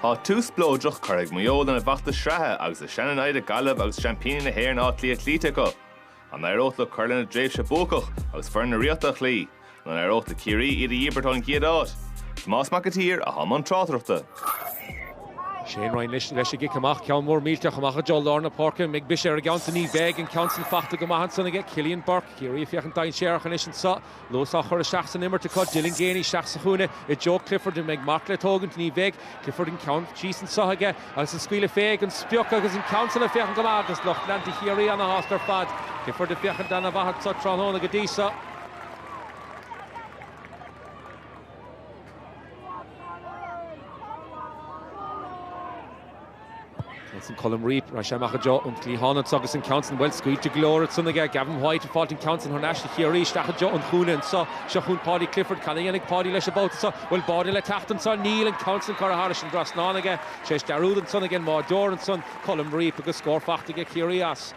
Tá tús spleodrach curtha ag Maigh Eo lena bhfeachtas sraithe agus le seana-namhaid Gaillimh agus seaimpíní na hÉireann Áth Cliath cloíte acu. An éireoidh leo cur lena dtréimhse buacach agus foireann na Ríochta a chloí? Nó an éireoidh le Ciarraí iad a dhíbirt ón gcéad áit? Tomás Mac an tSaoir, atá i mbun tráchtaireachta. Shane Ryan anois leis an gcic amach, ceann mór millteach amach i dtreo lár na páirce. An mbeidh briseadh ar an gceann san ní bheidh an ceann san faighte go maith ansan aige Cillian Burke. Ciarraí ag féachaint dainséarach anois anseo. Luas á chur isteach san imirt acu, Dylan Geaney isteach sa chúinne i dtreo Clifford, an mbeidh marc le tógaint? Ní bheidh. Clifford an ceann síos anseo aige agus an scaoileadh fén sprioc agus an ceann san ag féachaint go maith agus lucht leanta Chiarraí ana-shásta ar fad. Clifford ag féachaint ana mhaith anseo tráthnóna go dtí seo. Ceann san, Colm Reape, raghaidh sé amach i dtreo an chliatháin anso agus an ceann san, bhuel, scaoilte go leor ansan aige Gavin White, ag fáilt an ceann san thar n-ais do Chiarraí isteach i dtreo an chúinne anseo, seo chugainn Paudie Clifford, cad a dhéanfaidh Paudie leis an babhta seo, an bhfuil báide le teacht ansan, níl an ceann san curtha thairis an dtrasnán aige, tar éis dearúd ansan aige an mbáideoir ansan, Colm Reape, agus scór faighte aige Ciarraí as.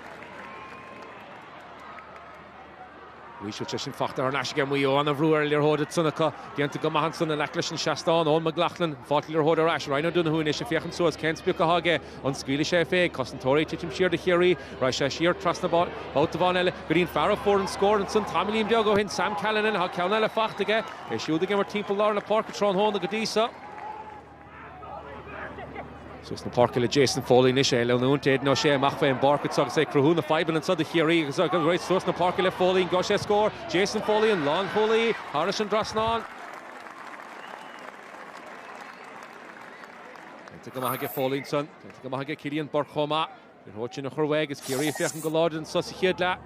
Luífeadh sé sin faighte thar n-ais aige Maigh Eo. Ana-bhrú ar an liathróid ansan acu. Déanta go maith ansan in aice leis an seastán. Eoghan McLaughlin, ag fáilt na liathróide ar ais. Ryan O'Donoghue anois ag féachaint suas. Cén sprioc atá aige? An scaoilfidh sé fé? Cosantóirí ag titim siar do Chiarraí. Raghaidh sé siar trasna babhta amháin eile. Go dtí an fear a fuair an scór ansan tamaillín beag ó shin, Sam Callinan. Tá ceann eile faighte aige. É siúd ag imirt timpeall lár na páirce tráthnóna go dtí seo. Suas na páirce le Jason Foley anois, é ag leanúint, Aidan O'Shea amach fén bpáirc anseo agus é ag cruthú na fadhbanna anseo do Chiarraí agus ag rith suas na páirce le Foley, an bhfaighidh sé scór? Jason Foley, an lánchúlaí, thairis an dtrasnán. Déanta go maith aige Foley ansan, déanta go maith aige Cillian Burke chomh maith. An liathróid sin a chur uaidh agus Ciarraí ag féachaint go láidir anso sa chéad leath.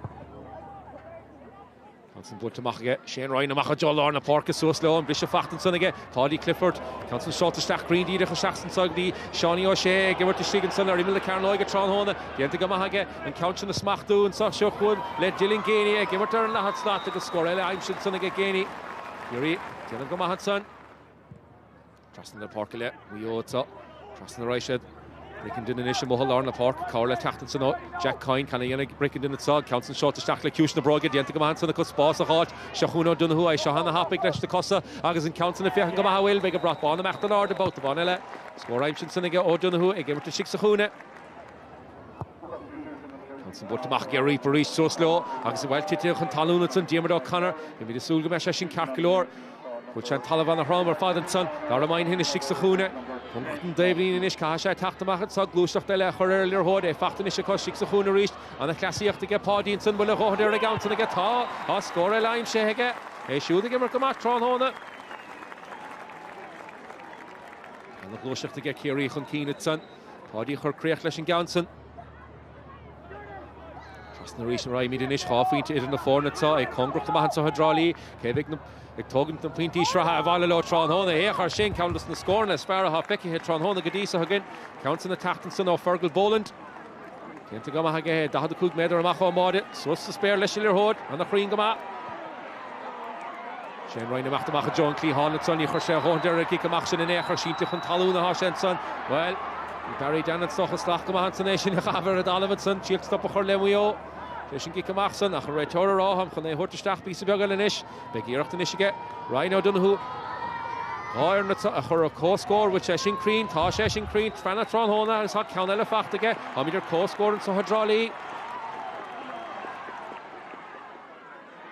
Ceann san buailte amach aige, Shane Ryan amach i dtreo lár na páirce, suas leo, an briseadh faighte ansan aige, Paudie Clifford. Ceann san seolta isteach grinn díreach isteach anso go dtí Seánie O'Shea, ag imirt istigh ansan ar imeall na cearnóige tráthnóna. Déanta go maith aige an ceann sin a smachtú anso seo chugainn le Dylan Geaney, ag imirt ar an ndaichead slat agus scór eile aimsithe ansan aige Geaney. Ciarraí ag déanamh go maith ansan. Trasna na páirce le Maigh Eo anseo. Trasna a raghaidh siad. Brickenden anois amuigh i lár na páirce. Cabhair le teacht ansan ó Jack Coyne. Cad a dhéanfaidh Brickenden anseo. An ceann san seolta isteach le ciumhais na bróige. Déanta go maith ansan acu spás a dh'fháilt. Seo chugainn O'Donoghue é seo ana-thapaidh leis na cosa agus an ceann san ag féachaint go maith an bhfuil. Beidh an brat bán ag imeacht in airde babhta amháin eile. Scór aimsithe ansan aige O'Donoghue ag imirt istigh sa chúinne. Johnson buailte amach ag Reap arís síos leo agus bhuel titithe chun talún ansan Diarmuid O'Connor, beimid ag súil go mbeadh sé sin ceart go leor. Bhuail sé an talamh ana throm ar fad ansan, Dara Moynihan istigh sa chúinne. i dtreo an dtaobhlíne anois caithfidh sé teacht amach anso gluaisteacht eile a chur ar an liathróid, é fachta anois acu istigh sa chúinne arís. Ana chleasaíocht aige Paudie ansan, bhuel a dhóthain-fhear aige ansan aige atá, tá scór eile aimsithe aige, é siúd ag imirt go maith tráthnóna. Ana ghluaisteacht aige, Ciarraí chun cinn ansan. Paudie ag cur críoch leis an gceann san. Tar n-ais arís a raghaimid anois dhá phointe idir na foirne atá ag comhrac amuigh anseo i dTrá Lí, cé bheidh ag tógaint na bpointí sraithe abhaile leo tráthnóna féach air sin ceann de na scóranna is fearr atá feicthe tráthnóna go dtí seo againn, ceann san ag teacht ansan ó Fergal Boland. Déanta go maith aige é, 45 méadar amach ón mbáide, suas sa spéir leis an liathróid, ana chruinn go maith. Shane Ryan ag imeacht amach i dtreo an cliatháin ansan, ní chuir sé a dhóthain fé an gcic amach sin in aon chor, sínte chun talún athá sé ansan. Bhuel, bhí Barry Dan ansan ag sleamhnú go maith ansan é féin a chaitheamh ar an dtalamh ansan, thriail stop a chur le Maigh Eo tar éis an gcic amach san, ach an réiteoir áfach chun é a thabhairt isteach píosa beag eile anois? Beidh iarracht anois aige Ryan O'Donoghue na foirne a chur ar comhscór. Bhfuil sé sin cruinn? Tá sé sin cruinn. Trasna an trasnáin agus tá ceann eile fachta aige. Táimid ar comhscór anseo i dTrá Lí.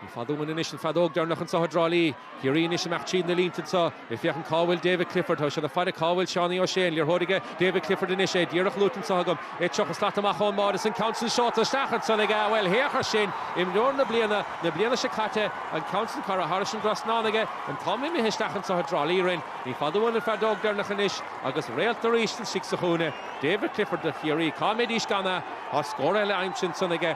Ní fada uainn anois an feadóg deireanach anseo i dTrá Lí. Ciarraí anois amach tríd na línte anseo. Ag féachaint cá bhfuil David Clifford, tá sé le fáil cá bhfuil Seánie Ó Sé, an liathróid aige, David Clifford anois, é díreach luaite anseo agam, é 30 slat amach ón mbáide is an ceann sin seolta isteach ansan aige, bhuel féach air sin, imreoir na bliana na bliana seo caite, an ceann sin curtha thairis an dtrasnán aige, an t-am imithe isteach anseo i dTrá Lí orainn, ní fada uainn an feadóg deireanach anois agus réalt arís istigh sa chúinne, David Clifford do Chiarraí, cá mbeidís gan é, tá scór eile aimsithe ansan aige.